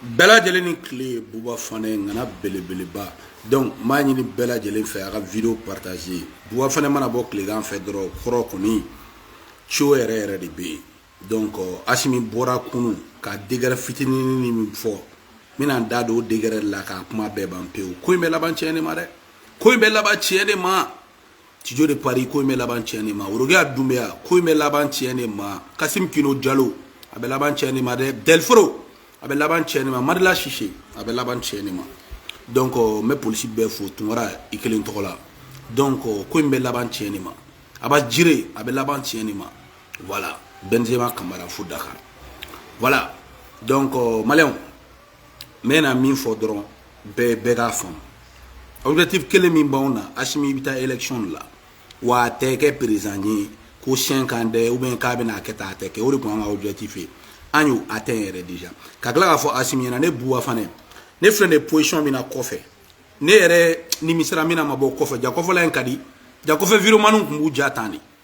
bɛɛ lajɛlen ni tile buba fane ŋana belebeleba donc n b'a ɲini bɛɛ lajɛlen fɛ a ka vidéo partager buba fane mana bɔ tilegan fɛ dɔrɔn kɔrɔ kɔni cio yɛrɛ yɛrɛ de bɛ yen donc asimi bɔra kunu ka décret fitinini ni min fɔ n bɛna n da don o décret la k'a kuma bɛɛ ban pewu ko in bɛ laban tiɲɛ de ma dɛ ko in bɛ laban tiɲɛ de ma tijo de paris ko in bɛ laban tiɲɛ de ma worokiya dunbiya ko in bɛ laban tiɲɛ de ma kasim kino jalo a bɛ laban tiɲɛ de ma dɛ delforo a bɛ laban tiɲɛ de ma madila sise a bɛ laban tiɲɛ de ma donc n bɛ polisi bɛɛ fo tunkara i kelen tɔgɔ la donc ko in bɛ laban tiɲɛ de ma aba jire a bɛ laban tiɲɛ de ma voilà benzema kamara fo dakar voilà donc maliyɛnw n bɛ na min fɔ dɔrɔn bɛɛ bɛɛ k'a faamu objectif kelen min b'anw na asimi i bɛ taa élection de la wa a tɛ kɛ président ye ko 5 ans dɛ ou bien k'a bɛna a kɛ tan a tɛ kɛ o de tun y'an ka objectif ye an y'o atteindre déjà ka tila k'a fɔ asimi ɲɛna ne buwa fane ne filɛ nin ye position min na kɔfɛ ne yɛrɛ nimisara mun na n ma bɔ kɔfɛ jaa kɔfɛla in ka di jaa kɔfɛ videomaniw tun b'u ja tan de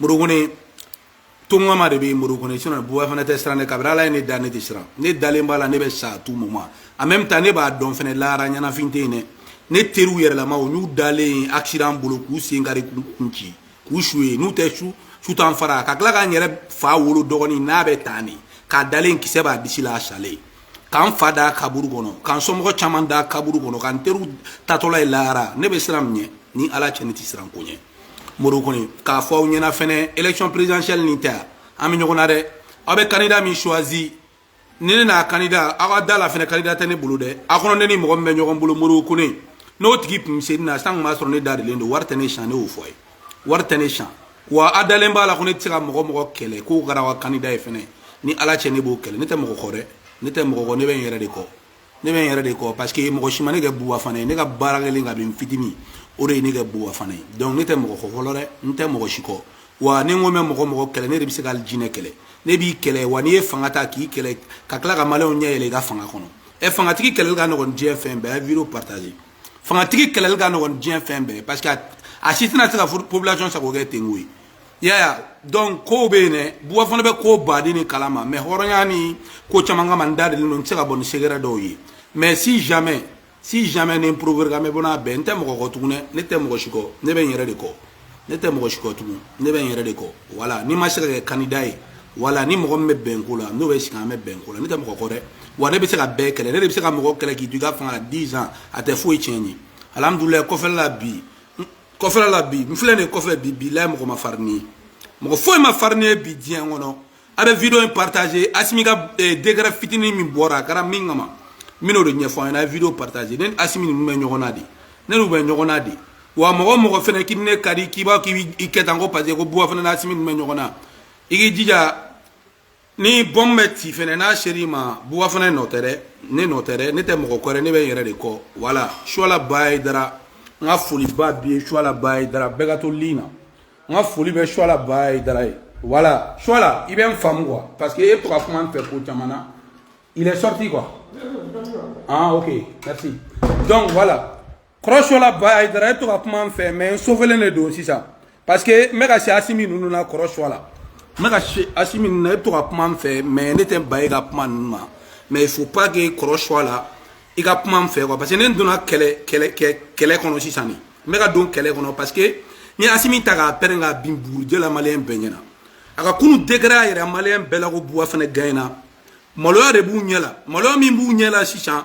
murukuni tongama de bɛ murukuni sinɔn buwa fane tɛ siran ne kabiri ala ye ne da ne tɛ siran ne dalen b'a la ne bɛ sa tout moment en même temps ne b'a dɔn fana lahara ɲɛnafin tɛ yen dɛ ne teriw yɛrɛlama u n'u dalen accident bolo k'u sen kari k'u kun ci k'u su ye n'u tɛ su su t'an fara ka tila ka n yɛrɛ fa wolo dɔgɔnin n'a bɛ tan de k'a dalen kisɛ b'a disi la a salen ka n fa da kaburu kɔnɔ ka n somɔgɔ caman da kaburu kɔnɔ ka n teriw taatɔla ye lahara ne bɛ siran mun ɲɛ ni ala cɛ ne tɛ siran ko ɲɛ mori kɔni k'a fɔ aw ɲɛna fɛnɛ élection présidentielle nin ta an bɛ ɲɔgɔn na dɛ aw bɛ candidat min choisi ni ne n'a candidat aw ka da a la fɛnɛ candidat tɛ ne bolo dɛ a kɔnɔ ne ni mɔgɔ min bɛ ɲɔgɔn bolo mori kɔni n'o tigi tun se na san tun b'a sɔrɔ ne da dilen don wari tɛ ne tiɲɛ ne y'o fɔ a ye wari tɛ ne tiɲɛ wa a dalen b'a la ko ne tɛ se ka mɔgɔ mɔgɔ kɛlɛ k'o kɛra aw ka candidat ye fɛnɛ ni ala cɛ ne b'o kɛlɛ ne tɛ mɔgɔ kɔ dɛ ne tɛ mɔgɔ kɔ ne bɛ n yɛrɛ de kɔ ne bɛ n yɛrɛ de kɔ parce que mɔgɔ si ma ne kɛ buwa fane ye ne ka baara kɛlen kabi n fitinin o de ye ne kɛ buwa fane ye donc ne tɛ mɔgɔ kɔ fɔlɔ dɛ n tɛ mɔgɔ si kɔ wa ni n ko n bɛ mɔgɔ mɔgɔ kɛlɛ ne de bɛ se ka hali jinɛ kɛlɛ ne b'i kɛlɛ wa n'i ye fanga ta k'i kɛlɛ ka tila ka maliyɛnw ɲɛ yɛlɛ i ka fanga kɔnɔ ɛ fangatigi kɛlɛli ka nɔgɔn diɲɛ fɛn bɛɛ vidéo partager fangatigi kɛlɛli ka nɔgɔn diɲɛ fɛn bɛɛ parce que a si tɛna se ka population sago kɛ ten ko ye yaya donc kow bɛ yen dɛ buwa fane bɛ koba de nin kalama mais hɔrɔnya ni ko caman kama n da dilen don n tɛ se ka bɔ ni secret dɔw ye mais si jamais si jamais ne provoquer n bɛ bɔ n'a bɛɛ n tɛ mɔgɔ kɔ tugun dɛ ne tɛ mɔgɔ si kɔ ne bɛ n yɛrɛ de kɔ ne tɛ mɔgɔ si kɔ tugun ne bɛ n yɛrɛ de kɔ voilà n'i ma se ka kɛ candidat ye voilà ni mɔgɔ min bɛ bɛn ko la n'o bɛ sigi an bɛ bɛn ko la ne tɛ mɔgɔ kɔ dɛ wa ne bɛ se ka bɛɛ kɛlɛ ne de bɛ se ka mɔgɔ kɛlɛ k'i to i ka fanga la 10 ans a tɛ foyi tiɲɛ n ye alhamdulilayi kɔfɛla la bi kɔfɛla la bi n filɛ nin kɔfɛ bi bi la mɔgɔ man farin ne ye mɔgɔ foyi man farin ne ye bi diɲɛ kɔnɔ a bɛ vidéo in partager asimi ka eh, décret fitinin min bɔra a kɛra min kama n bɛn'o de ɲɛfɔ aw ɲɛna a ye vidéo partager ne ni asimi ninnu bɛ ɲɔgɔn na de ne n'u bɛ ɲɔgɔn na de wa mɔgɔ mɔgɔ fɛnɛ k'i ne ka di k'i b'a k'i kɛ tan ko parce que ko buba fane ni asimi ninnu bɛ ɲɔgɔn na i k'i jija ni bombe bɛ ci fɛnɛ n'a ser'i ma buba fane nɔ tɛ dɛ ne nɔ tɛ dɛ ne tɛ mɔgɔ kɔ dɛ ne bɛ n yɛrɛ de kɔ voilà suwala baye dara n ka foliba bi ye suwala baye dara bɛɛ ka to ligne na n ka foli bɛ suwala baye dara ye voilà suwala i bɛ n faamu quoi parce que e bɛ to ka kuma n fɛ ko caman na il est sorti quoi ah ok merci donc voilà kɔrɔ suwala baye dara e to ka kuma n fɛ mais n sofelen de don sisan parce que n bɛ ka se asimi ninnu na kɔrɔ suwala n bɛ ka se asimi ninnu na e to ka kuma n fɛ mais ne tɛ ban e ka kuma ninnu ma mais il faut pas que kɔrɔ suwala i ka kuma n fɛ quoi parce que ne n donna kɛlɛ kɛlɛ kɛlɛ kɔnɔ sisan de n bɛ ka don kɛlɛ kɔnɔ parce que n ye asimi ta k'a pɛrɛn k'a bin bugurijɛ la maliyɛn bɛɛ ɲɛna a ka kunu décret a yɛrɛ maliyɛn bɛɛ la ko buba fane gaɲɛna maloya de b'u ɲɛ la maloya min b'u ɲɛ la sisan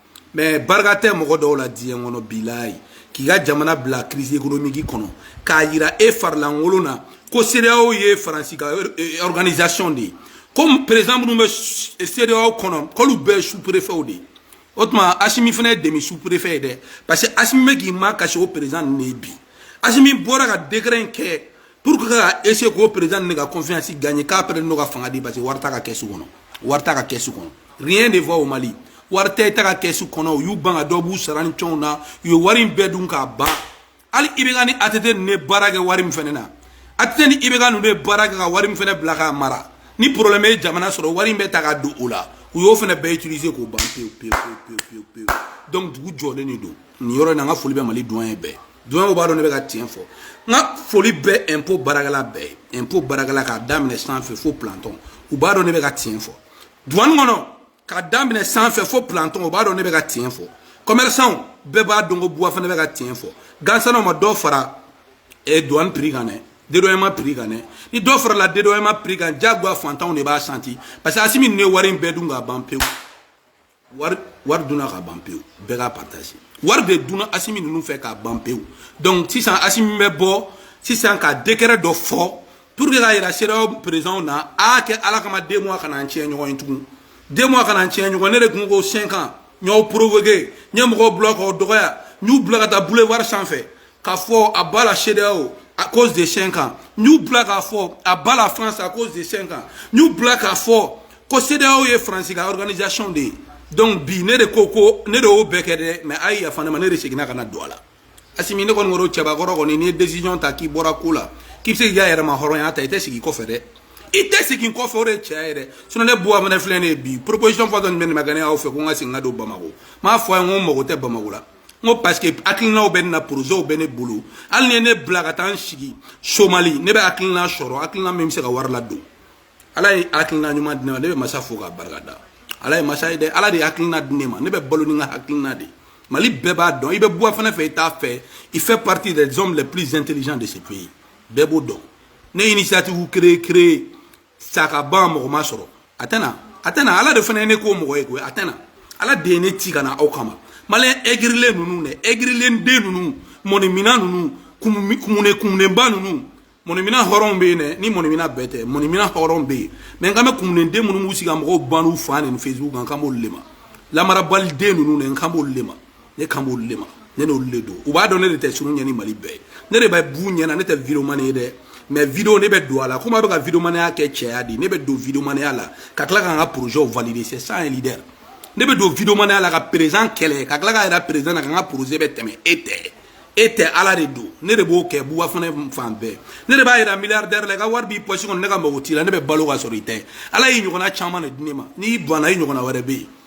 mais barika tɛ mɔgɔ dɔw la diɲɛ kɔnɔ bilayi k'i ka jamana bila crise économique kɔnɔ k'a yira e farilankolon na ko CEDEAO ye faransi ka eh, organisation de ye ko président minnu bɛ CEDEAO kɔnɔ k'olu bɛɛ ye sous-préfetw de ye o tuma asimi fana ye demi sous-préfet ye dɛ parce que asimi bɛ k'i makasi o président ninnu de ye bi asimi bɔra ka décret in kɛ pour que ka essayer k'o président ninnu ka confiance gagner k'a pɛrɛ n'o ka fanga di parce que wari t'a ka kɛsu kɔnɔ wari t'a ka kɛsu kɔnɔ rien ne va au mali wari tɛ état ka kɛsu kɔnɔ u y'u ban ka dɔ b'u sara ni cɛnw na u ye wari in bɛɛ dun k'a ban hali IBK ni ATT ninnu ye baara kɛ wari min fɛnɛ na ATT ni IBK ninnu ye baara kɛ ka wari min fɛnɛ bila k'a mara ni problème ye jamana sɔrɔ wari in bɛ ta ka don o la u y'o fɛnɛ bɛɛ utiliser k'o ban pewu pewu pewu pewu pewu donc dugu jɔlen de don nin yɔrɔ in na n ka foli bɛ mali duwaniye bɛɛ duwaniyew b'a dɔn ne bɛ ka tiɲɛ fɔ n ka foli bɛ ɛnpo baarakɛla bɛɛ ye ɛnpo baarakɛla k'a daminɛ sanfɛ fo plantɔn u b'a dɔn ne bɛ ka tiɲɛ fɔ duwani kɔnɔ k'a daminɛ sanfɛ fo plantɔn u b'a dɔn ne bɛ ka tiɲɛ fɔ kɔmɛrisanw bɛɛ b'a dɔn ko buba fane bɛ ka tiɲɛ fɔ gansan aw ma dɔ fara eh, duwani prix kan dɛ dédouanement prix kan dɛ ni dɔ farala dédouanement prix kan jagoya fantanw de b'a sentir parce que asimi ninnu ye wari in bɛɛ dun ka ban pewu wari wari dunna ka ban pewu bɛɛ k'a partager wari de dunna asimi ninnu fɛ ka ban pewu donc sisan asimi bɛ bɔ sisan ka décret dɔ fɔ pour que k'a yira CEDEAO présidentw na a kɛ ala kama deux mois kana an tiɲɛ ɲɔgɔn ye tugun deux mois kana an tiɲɛ ɲɔgɔn ne de tun ko cinq ans n y'aw provoquer n ye mɔgɔw bila k'aw dɔgɔya n y'u bila ka taa boulevard sanfɛ k'a fɔ à bas la CEDEAO à cause de cinq ans n y'u bila k'a fɔ à bas la France à cause de cinq ans n y'u bila k'a fɔ ko CEDEAO ye France ka organisation de ye donc bi ne de ko ko ne de y'o bɛɛ kɛ dɛ mais a ye yafa ne ma ne de seginna ka na don a la asimi ne ko n kɔrɔ cɛbakɔrɔ kɔni n'i ye décision ta k'i bɔra ko la k'i bɛ se k'i ka yɛrɛmahɔrɔnya ta i tɛ segin kɔfɛ dɛ i tɛ segin kɔfɛ o de ye tiɲɛ ye dɛ sinɔn ne buba fane filɛ nin ye bi proposition fɔ dɔ nin bɛ nin ma kɛ ne y'aw fɛ ko n ka segin ka don bamako n b'a fɔ a ye n ko n mago tɛ bamako la n ko parce que hakilinaw bɛ ne na projetw bɛ ne bolo hali n'i ye ne bila ka taa n sigi somali ne bɛ hakilina sɔrɔ hakilina min bɛ se ka wari ladon ala ye hakilina ɲuman di ne ma ne bɛ masa fo k'a barika da ala ye masa ye dɛ ala de ye hakilina di ne ma ne bɛ balo ni n ka hakilina de ye mali bɛɛ b'a dɔn i bɛ buba fane fɛ i t'a fɛ il fait partie des hommes les plus intelligents de ce pays bɛɛ b'o dɔn ne initiative créé créé saka ba mɔgɔ ma sɔrɔ a tɛna a tɛna ala de fana ye ne k'o mɔgɔ ye koyi a tɛna ala de ye ne ci ka na aw kama maliyɛn egirilen ninnu dɛ egirilen den ninnu mɔnimina ninnu kumune kumunenba ninnu mɔnimina hɔrɔnw bɛ yen dɛ ni mɔnimina bɛɛ tɛ mɔnimina hɔrɔnw bɛ yen mais n kan bɛ kumunen den minnu b'u sigi ka mɔgɔw ba n'u fa neni facebook kan n kan b'olu de ma lamarabali den ninnu dɛ n kan b'olu de ma ne kan b'olu de ma ne n'olu de don u b'a dɔn ne de tɛ siran u ɲɛ ni mali bɛɛ ye ne de bɛ b'u ɲɛ na ne tɛ videomani ye dɛ mais video ne bɛ don a la komi a bɛ ka videomanaya kɛ cɛya de ne bɛ don videomanaya la ka tila ka n ka projetw valider c'est ça un leader ne bɛ don videomanaya la ka président kɛlɛ ka tila k'a yira président na ko n ka projet bɛ tɛmɛ e tɛ e tɛ ala de don ne de b'o kɛ buba fane fan bɛɛ ne de b'a yira milliardaire la i ka wari b'i pɔsi kɔnɔ ne ka mago t'i la ne bɛ balo ka sɔrɔ i tɛ ala y'i ɲɔgɔnna caman de di ne ma n'i banna i ɲɔgɔnna wɛrɛ bɛ yen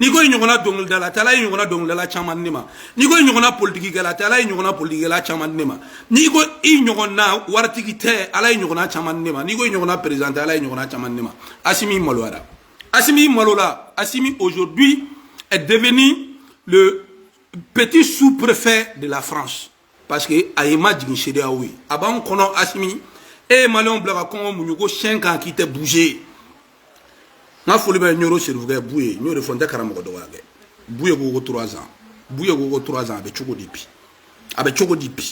n'i ko i ɲɔgɔnna dɔnkilidala tɛ ala y'i ɲɔgɔnna dɔnkilidala caman di n ma n'i ko i ɲɔgɔnna politikikɛla tɛ ala y'i ɲɔgɔnna politikikɛla caman di n ma n'i ko i ɲɔgɔnna waritigi tɛ ala y'i ɲɔgɔnna caman di n ma n'i ko i ɲɔgɔnna président tɛ ala y'i ɲɔgɔnna caman di n ma asimi maloyara asimi malola asimi aujourd'hui est devenu le petit sous-préfet de la france parce que a y'i majigin CEDEAO ye a b'an kɔnɔ asimi e ye maliyɛnw bila ka kɔngɔ muɲu ko cinq ans k'i tɛ bouger n ka foli bɛ ɲoro serifukɛ buye n y'o de fɔ n tɛ karamɔgɔ dɔgɔya kɛ buye ko ko trois ans buye ko ko trois ans a bɛ cogo di bi a bɛ cogo di bi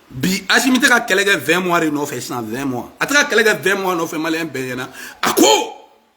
bi asimi tɛ ka kɛlɛ kɛ 20 mois de nɔfɛ sisan 20 mois a tɛ ka kɛlɛ kɛ 20 mois nɔfɛ maliyɛn bɛɛ ɲinɛna a kɔ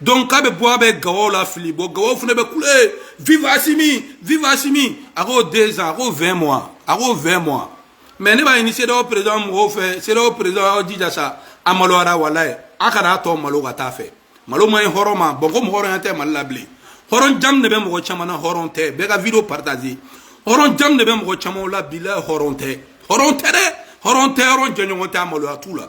donc k'a bɛ bɔ a bɛ gawaw lafili bɔ gawaw fana bɛ kule vive asimi vive asimi a ko deux ans a ko vingt mois a ko vingt mois mais ne b'a ɲini CEDEAO président mɔgɔw fɛ CEDEAO président aw jija sa a maloyara walayi a kana a tɔ malo ka taa fɛ malo man ɲi hɔrɔn ma bɔn ko mɔgɔ hɔrɔnya tɛ mali la bilen hɔrɔn jamu de bɛ mɔgɔ caman na hɔrɔn tɛ bɛɛ ka video partager hɔrɔn jamu de bɛ mɔgɔ camanw la bi la hɔrɔn tɛ hɔrɔn tɛ dɛ hɔrɔn tɛ hɔrɔn jɛɲɔgɔn tɛ a maloya t'u la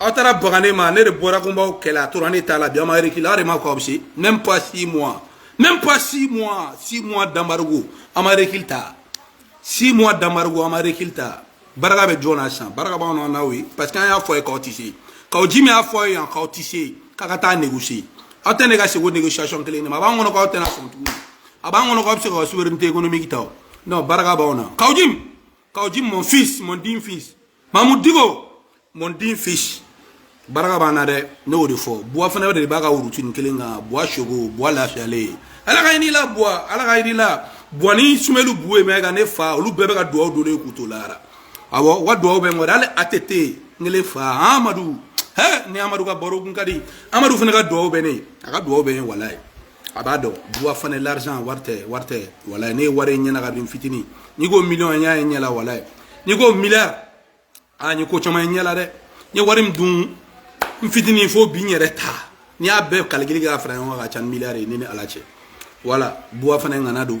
aw taara baga ne ma ne de bɔra ko n b'aw kɛlɛ a tora ne ta la bi aw ma rekili aw de ma ko aw bɛ se même pas six mois même pas six mois six mois d'embargo aw ma rekili ta six mois d'embargo aw ma rekili ta barika bɛ jɔn na sisan barika b'anw na n'aw ye parce que an y'a fɔ ye k'aw tɛ se k'aw ji min y'a fɔ ye yan k'aw tɛ se k'a ka taa négocier aw tɛ négocier ko négociation kelen de ma a b'an kɔnɔ k'aw tɛna sɔn tuguni a b'an kɔnɔ k'aw bɛ se k'aw souveraineté économique ta o non barika b'aw na k'aw ji k'aw ji mon fils mon digne fils mamu diko mon digne fils baraka b'an na dɛ ne y'o de fɔ buba fane de b'a ka routine kelen kan buwa sogo buwa lafiyalen ye ala ka hinɛ a la buwa ala ka hinɛ a la buwa ni sumeyilu bubɛyi mayiga ne fa olu bɛɛ bɛ ka duwawu don ne k'u to lahara awɔ u ka duwawu bɛ n kɔrɔ hali atete n kelen fa amadu hɛ ni amadu ka baro kun ka di amadu fana ka duwawu bɛ ne ye a ka duwawu bɛ n ye walayi a b'a dɔn buba fane l'argent wari tɛ wari tɛ walayi ne ye wari ye n ɲɛ na kabini n fitini n'i ko million n y'a ye ɲɛ la walayi n'i ko milliard a n ye ko caman ye ɲɛ la dɛ n ye wari min dun n fitini fo bi n yɛrɛ ta n'i y'a bɛɛ kalikili kɛ ka fara ɲɔgɔn kan a ka ca ni milliard ye ne ni ala cɛ wala buba fane ŋana don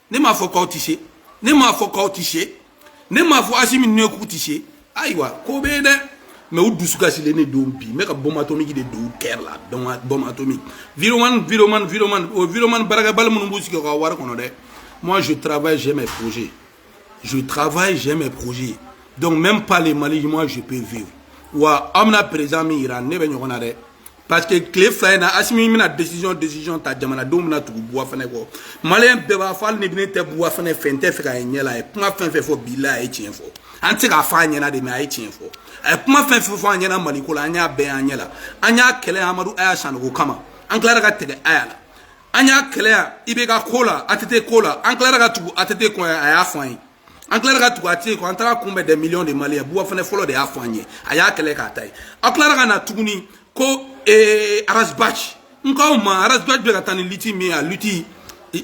ne m'a fɔ k'aw tɛ se ne m'a fɔ k'aw tɛ se ne m'a fɔ asimi ne k'u tɛ se ayiwa ko bɛ yen dɛ mais u dusu kasilen de don bi n bɛ ka bombe atomique de don kɛrɛ la bombe atomique vidéoman vidéoman vidéoman o vidéoman baarakɛbali minnu b'u sigi u ka wari kɔnɔ dɛ moi je travaille j'ai mes projets je travaille j'ai mes projets donc même pas le mali moi je peux vivre wa aw bɛna président min jira ne bɛ ɲɔgɔn na dɛ parce que tile fila in na asimi bɛna décision décision ta jamanadenw bɛna tugu buba fane kɔ maliyɛn bɛɛ b'a fɔ hali ni ne tɛ buba fane fɛ n t'a fɛ k'a ye ɲɛ la a ye kuma fɛn fɛn fɔ bi la a ye tiɲɛ fɔ an tɛ se k'a fɔ a ɲɛna dɛ mais a ye tiɲɛ fɔ a ye kuma fɛn fɛn fɔ an ɲɛna maliko la an y'a bɛɛ y'an ɲɛ la an y'a kɛlɛ amadu aya sanogo kama an tilara ka tɛgɛ aya la an y'a kɛlɛ yan ibeka ko la atete ko la an tilara ka tugu atete kɔ a y'a fɔ an ye an tilara ka tugu atete kɔ an taara a kunbɛn des millions de maliens buba fane fɔlɔ de y'a fɔ an ye a y'a kɛlɛ k'a ta ye aw tilara ka na tuguni ko eh, ras bath n k'aw ma ras bath bɛ ka taa ni lutte min ye a lutte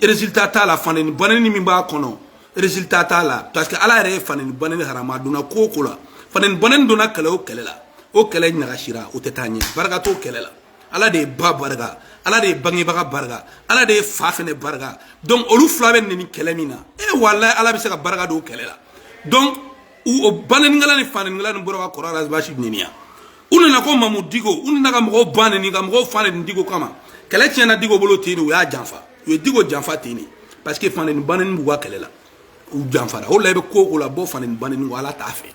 résultat t'a la faneni baneni min b'a kɔnɔ résultat t'a la parce que ala yɛrɛ ye faneni baneni haramu a donna ko o ko la faneni baneni donna kɛlɛ o kɛlɛ la o kɛlɛ ɲagasira o tɛ taa ɲɛ barika t'o kɛlɛ la ala de ye ba barika ala de ye bangebaga barika ala de ye fa fɛnɛ barika donc olu fila bɛ neni kɛlɛ min na e eh, walayi ala bɛ se ka barika don kɛlɛ la donc u o banenikɛla ni fanenikɛla nin bɔra ka kɔrɔ ras bath neniya u nana ko mamu diko u nana ka mɔgɔw ba neni ka mɔgɔw fa neni diko kama kɛlɛ tiɲɛna diko bolo ten de u y'a janfa u ye diko janfa ten de parce que faneni baneni b'u ka kɛlɛ la u janfara o la i bɛ ko o ko la bɔ faneni baneni kɔ ala t'a fɛ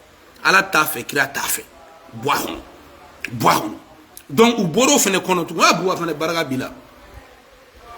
ala t'a fɛ kira t'a fɛ bɔ a kɔnɔ bɔ a kɔnɔ donc u bɔra o fana kɔnɔ tugun a buba fane barika b'i la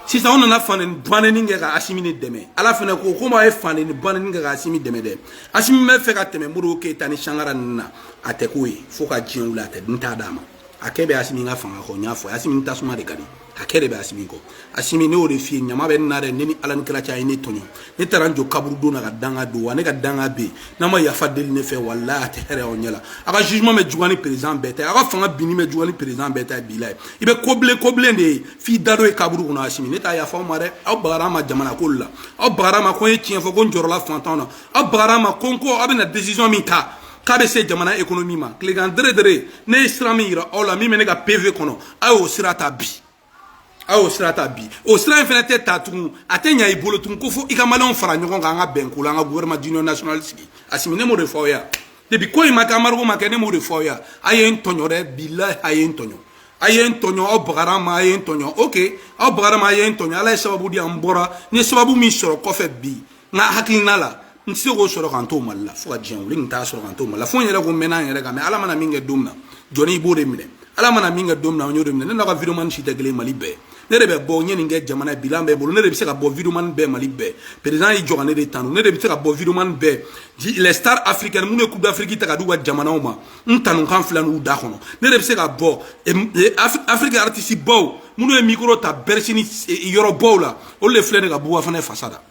sisan u nana fa neni ba neni kɛ ka asimi de dɛmɛ ala fana ko komi a ye fa neni ba neni kɛ ka asimi dɛmɛ dɛ asimi bɛ fɛ ka tɛmɛ modibo keyita ni sankara ninnu na a tɛ k'o ye fo ka diɲɛ wuli ala tɛ n t'a d'a ma hakɛ bɛ asimi ka fanga kɔ n y'a fɔ asimi tasuma de ka di hakɛ de bɛ asimi kɔ asimi ne y'o de f'i ye ɲama bɛ n na dɛ ne ni ala ni kira cɛ a ye ne tɔɲɔ ne taara n jɔ kaburudo na ka danga don wa ne ka danga bɛ yen n'a ma yafa deli ne fɛ walayi a tɛ hɛrɛ aw ɲɛ la a ka jugement bɛ juguya ni président bɛɛ ta ye a ka fanga binni bɛ juguya ni président bɛɛ ta ye bilahi i bɛ kobilen kobilen de ye f'i da don ye kaburu kɔnɔ asimi ne tɛ yafa aw ma dɛ aw bagara n ma jamana ko la aw bagara n ma ko n ye tiɲɛ fɔ ko n jɔrɔla fantanw na aw bagara n ma ko n ko aw bɛna décision min ta k'a bɛ se jamana économie ma tilekan deredere ne ye sira min yira aw la min bɛ ne ka pv kɔnɔ a y'o sira ta bi a y'o sira ta bi o sira in fana tɛ ta tugun a tɛ ɲa i bolo tugun ko fo i ka maliyɛnw fara ɲɔgɔn kan an ka bɛn ko la an ka gouvernement d'union nationale sigi asimi ne m'o de fɔ aw ye depuis ko in ma kɛ embargo ma kɛ ne m'o de fɔ aw ye a ye n tɔɲɔ dɛ bilahi a ye n tɔɲɔ a ye n tɔɲɔ aw bagara n ma a ye n tɔɲɔ ok aw bagara n ma a ye n tɔɲɔ ala ye sababu di an bɔra n ye sababu min sɔrɔ kɔfɛ bi n ka hakilina la n tɛ se k'o sɔrɔ ka n to mali la fo ka diɲɛ wuli n t'a sɔrɔ ka n to mali la fo n yɛrɛ ko n mɛnna n yɛrɛ kan mɛ ala mana min kɛ don min na jɔn i b'o de minɛ ala mana min kɛ don min na n y'o de minɛ ne n'aw ka videomani si tɛ kelen mali bɛɛ ne de bɛ bɔ n ye nin kɛ jamana ye bilan bɛ n bolo ne de bɛ se ka bɔ videomani bɛɛ mali bɛɛ président y'i jɔ ka ne de tanu ne de bɛ se ka bɔ videomani bɛɛ cɛ les stars africaines minnu ye coupe d'afrique ta ka d'u ka jamanaw ma n tanukan filɛ nin u da kɔnɔ ne de bɛ se ka bɔ afrique artiste baw minnu ye micro ta bercy ni yɔrɔ baw la olu de filɛ nin ka buba fane fasa da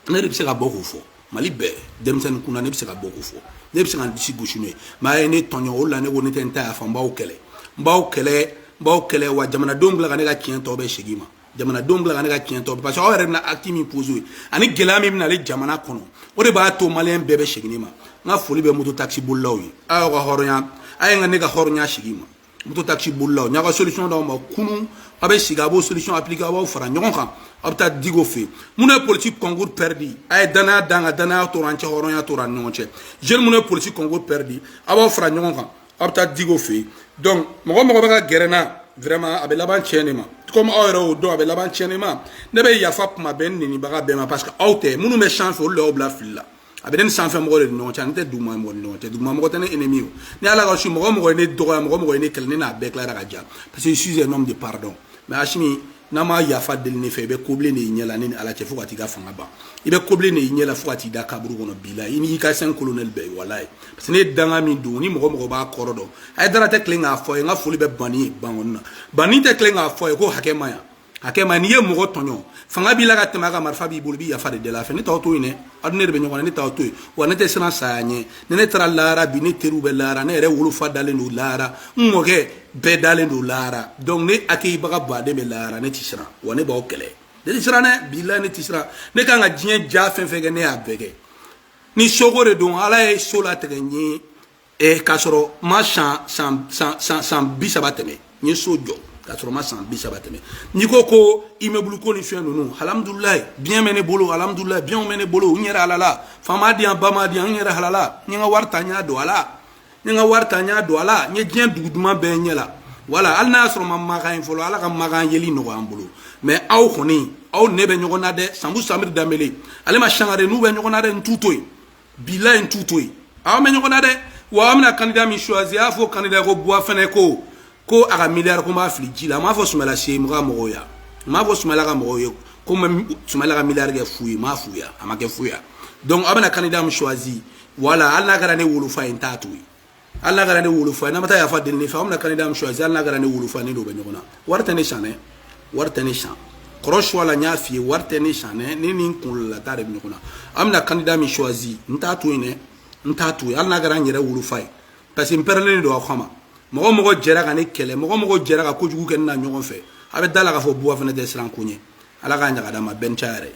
ne de bɛ se ka bɔ k'o fɔ mali bɛɛ denmisɛnnin kunna ne bɛ se ka bɔ k'o fɔ ne bɛ se ka n disi gosi n'o ye mais a ye ne tɔɲɔ o la ne ko ne tɛ n ta yafa n b'aw kɛlɛ n b'aw kɛlɛ n b'aw kɛlɛ wa jamanadenw bila ka ne ka tiɲɛ tɔ bɛɛ segin n ma jamanadenw bila ka ne ka tiɲɛ tɔ parce que aw yɛrɛ bɛna acte min poser ani gɛlɛya min bɛna ale jamana kɔnɔ o de b'a to maliyɛn bɛɛ bɛ segin ne ma n ka foli bɛ moto taxi bolilaw ye aw y'aw ka hɔrɔnya a ye n ka ne ka hɔrɔnya segin n ma moto taxi bolilaw n y'aw ka solution d'aw ma kunu aw bɛ sigi aw b'o solution appliquer aw b'aw fara ɲɔgɔn kan aw bɛ taa diko fɛ yen minnu ye politique concours pɛridi a ye danaya dan ka danaya tora an cɛ hɔrɔnya tora an ni ɲɔgɔn cɛ jeune minnu ye politique concours pɛridi aw b'aw fara ɲɔgɔn kan aw bɛ taa diko fɛ yen donc mɔgɔ mɔgɔ bɛ ka gɛrɛ n na vraiment a bɛ laban tiɲɛ de ma comme aw yɛrɛ y'o dɔn a bɛ laban tiɲɛ de ma ne bɛ yafa mɔgɔ bɛɛ n nenibaga bɛɛ ma parce que aw tɛ minnu bɛ sanfɛ olu de y'aw bila fili la a bɛ ne ni sanfɛ mɔgɔ de ni ɲɔgɔn cɛ ani tɛ duguma mɔgɔ ni ɲɔgɔn cɛ duguma mɔgɔ tɛ ne ennemi o ni ala ka su mɔgɔ mɔgɔ ye ne dɔgɔya mɔgɔ mɔgɔ ye ne kɛlɛ ne n'a bɛɛ tilara ka ja parce que je suis un homme de pardon mais asimi n'a ma yafa deli ne fɛ i bɛ kobilen de y'i ɲɛ la ne ni ala cɛ fo ka t'i ka fanga ban i bɛ kobilen de y'i ɲɛ la fo ka t'i da kaburu kɔnɔ bilahi i n'i ka cinq colonels bɛɛ ye walayi parce que ne ye danga min don ni mɔgɔ mɔgɔ b'a kɔrɔ dɔn hayidara tɛ tilen k'a fɔ i ye n ka foli bɛ bani ye bankoni na bani tɛ tilen k'a fɔ i ye ko hakɛ man ɲi hakɛ ma n'i ye mɔgɔ tɔɲɔ fanga b'i la ka tɛmɛ a kan marifa b'i bolo i bɛ yafa deli a fɛ ne t'aw to yen dɛ aw ni ne de bɛ ɲɔgɔn na ne t'aw to yen wa ne tɛ siran saya ɲɛ ni ne taara lahara bi ne teriw bɛ lahara ne yɛrɛ wolofa dalen don lahara n mɔkɛ bɛɛ dalen don lahara donc ne akɛyibaga ba de bɛ lahara ne tɛ siran wa ne b'aw kɛlɛ ne tɛ siran dɛ bilayi ne tɛ siran ne kan ka diɲɛ diya fɛn fɛn kɛ ne y'a bɛɛ kɛ ni so ko de don ala ye so latigɛ n ye Eh, k'a sɔrɔ n ma san san san san san bi saba tɛmɛ n ye so jɔ k'a sɔrɔ n ma san bi saba tɛmɛ n'i ko ko immeuble ko ni fɛn ninnu alhamdulilayi bien bɛ ne bolo alhamdulilayi bienw bɛ ne bolo n yɛrɛ halala fa m'a di yan ba m'a di yan n yɛrɛ halala n ye n ka wari ta n y'a don a la n ye n ka wari ta n y'a don a la n ye diɲɛ dugu duman bɛɛ yaala wala hali n'a y'a sɔrɔ n ma makan ye fɔlɔ ala ka makan yeli nɔgɔya an bolo mais aw kɔni aw ne bɛ ɲɔgɔn na dɛ sanbu samiri danbele alima sangare n'u bɛ ɲɔgɔn na dɛ n t'u to yen bilayi n t'u to yen an bɛ ɲɔgɔn na dɛ wa aw bɛna kandida min suwazi a y'a fɔ kandida ko buwa fɛnɛ ko ko a ka miliyari ko n b'a fili ji la n m'a fɔ sumala sise ka mɔgɔw ya n m'a fɔ sumala ka mɔgɔw ye ko n bɛ sumala ka miliyari kɛ fu ye n m'a fu ya a ma kɛ fu ya donc aw bɛna kandida min suwazi wala hali n'a kɛra ne wolofa ye n t'a to yen hali n'a kɛra ne wolofa ye n'a ma taa yafa deli ne fɛ aw bɛna kandida min suwasi hali n'a kɛra ne wolofa ne n'o bɛ ɲɔgɔn na wari tɛ ne san dɛ wari tɛ ne san kɔrɔcɛ wala n y'a f'i ye wari tɛ ne san dɛ ne ni n kunkolo la ta de bɛ ɲɔgɔn na aw bɛna kandida min suwasi n t'a to yen dɛ n t'a to yen hali n'a kɛra n yɛrɛ wolofa ye parce que n pɛrɛlen don aw kama mɔgɔ mɔgɔ jɛra ka ne kɛlɛ mɔgɔ mɔgɔ jɛra ka kojugu kɛ ne na ɲɔgɔn fɛ aw bɛ d'a la k'a fɔ buwa fana tɛ siran ko ɲɛ ala k'a ɲaga d'a ma bɛn ca yɛrɛ ye